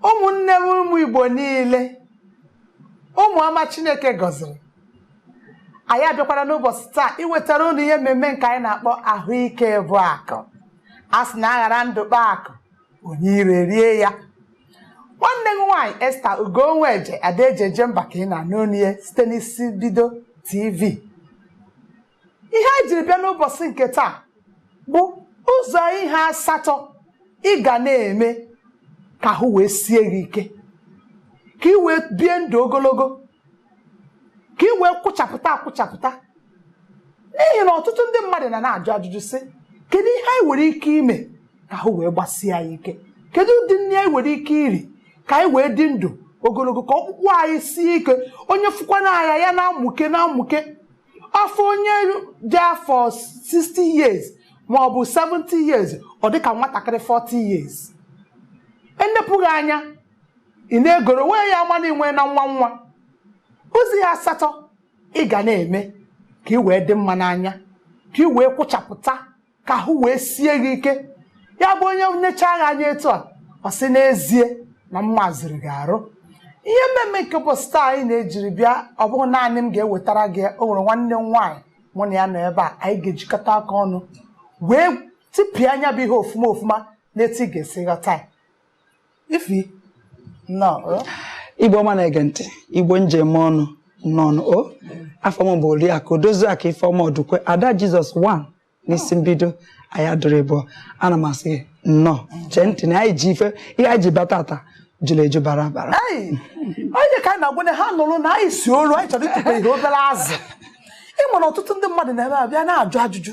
ụmụnne m ụmụ igbo niile ụmụ ọma chineke gọziri anyị abịakwara n'ụbọchị taa iwetara unu ihe mmemme nke anyị na-akpọ ahụike bụ akụ a sị na a ghara ndụ kpaa akụ onye iro erie ya nwanne m nwaanyị esther ugonweje ada eji eje mba ka ị na-anụ onu ya site n'isi mbido tv ihe anyị jiri bịa n'ụbọchị nke taa bụ ụzọ ihe asatọ ị ga na-eme ka ahụ wee sie gị ike ka ị wee bie ndụ ogologo ka ị wee kwụchapụta akwụchapụta n'ihi na ọtụtụ ndị mmadụ na na-ajụ ajụjụ sị kedu ihe anyị nwere ike ime ka ahụ wee gbasie anyị ike kedu ụdị nri anyị nwere ike iri ka anyị wee dị ndụ ogologo ka ọkpụkpụ anyị sie ike onye fụkwana anya ya na-amụke na-amụke a fụ onye dị afọ 60 years ma ọ bụ 70 years ọ dị ka nwatakịrị 40 years e nepụ gị anya ị na-egoro wee ya ama na i nwena nwa nwa ụzọ ihe asatọ ị ga na-eme ka ị wee dị mma n'anya ka ị wee kwụchapụta ka ahụ wee sie gị ike ya bụ onye nechaa gị anya etu a ọ sị n'ezie na mma zuru gị arụ ihe mmemme nke ụbọchị taa anyị na-ejiri bịa ọ bụghị naanị m ga-ewetara gị ya, o nwere nwanne m nwaanyị mụ na ya nọ ebe a anyị ga-ejikọta aka ọnụ wee tipịa nya bụ ihe ofuma ofuma n'etu ị ga-esi ghọta ya ify nnọọ igbo ọma na-ege ntị igbo m ji eme ọnụ nnọọ nụ o afa m bụ oriakụ odoziakụ ifeọma ọdụkwe ada jizọs 1 n'isi mbido anyị adịrọ ịbụọ ana m asị gị nnọọ chee ntị na anyị ji ife ihe anyị ji bata taa juru eju bara abara onye ka anyị na-agwa na ha nụrụ na anyị si olu anyị chọrọ ịtụpe ihe obere azụ ị ma na ọtụtụ ndị mmadụ na-ebe abịa na-ajụ ajụjụ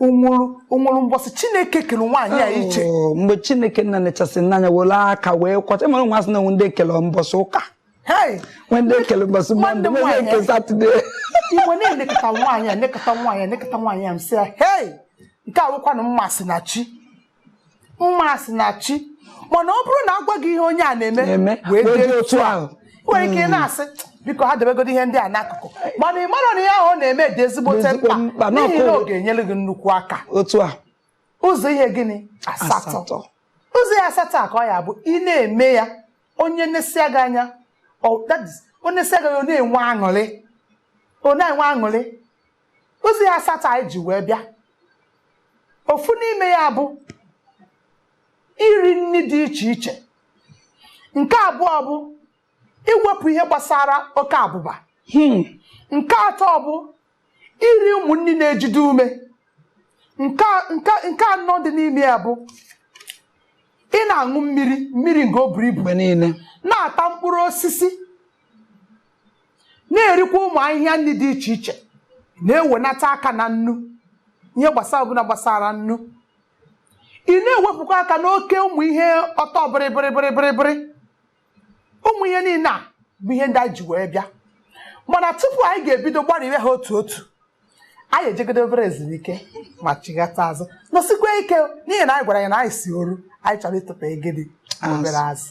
o nwere o nwere mbọsị chineke kere nwaanyị a iche Oh, mgbe chineke nna nechasị n'anya were aka wee kwọcha ị mara na a sị na o nwe ndị e kele mbọsị ụka Hey, nwe ndị e kele mbọsị Nwa ndị mọnde nwe ndị nwaanyị. nke satọde m wee nekọta nwaanyị a nekọta nwaanyị a nekọta nwaanyị a m sị ya hei nke a wụkwanụ mma si na chi mma si na chi mana ọ bụrụ na a gwa gị ihe onye a na-eme wee dị otu ahụ nwere ike hmm. na-asị biko ha debegodi ihe ndị a n'akụkụ mana ị mara na ihe ahụ ọ na-eme dị ezigbote mkpa n'ihi na ọ ga-enyere gị nnukwu aka otu a ụzọ ihe gịnị asatọ ụzọ ihe asatọ a ka ọ ya-abụ ị na-eme ya onye nesịa gị anya onye nesịa gị ọ na-enwe aṅụrị ọ na-enwe aṅụrị Ụzọ ihe asatọ anyị ji wee bịa ofu n'ime ya bụ iri nri dị iche iche nke abụọ bụ iwepụ ihe gbasara oke abụba hmm. nke atọ bụ iri ụmụ nri na-ejide ume nke anọ dị n'ime ya bụ ị na-aṅụ mmiri mmiri nke o buru ibu mgbe niile na-ata mkpụrụ osisi na-erikwa ụmụ ahịhịa nri dị iche iche na-ewenata aka na nnu ihe gbasara ọbụla gbasara nnu ị na-ewepụkwa aka n'oke ụmụ ihe ọtọ bịrịbịrịbịrịbịrịbịrị ụmụ ihe niile a bụ ihe ndị anyị ji wee bịa mana tupu anyị ga-ebido gbarịwe ha otu otu anyị ejegodi obere ezumike ma chighata azụ nọsikwa ike n'ihi na anyị gwara ya na anyị si oru anyị chọrọ ịtụpụ egede na obere azụ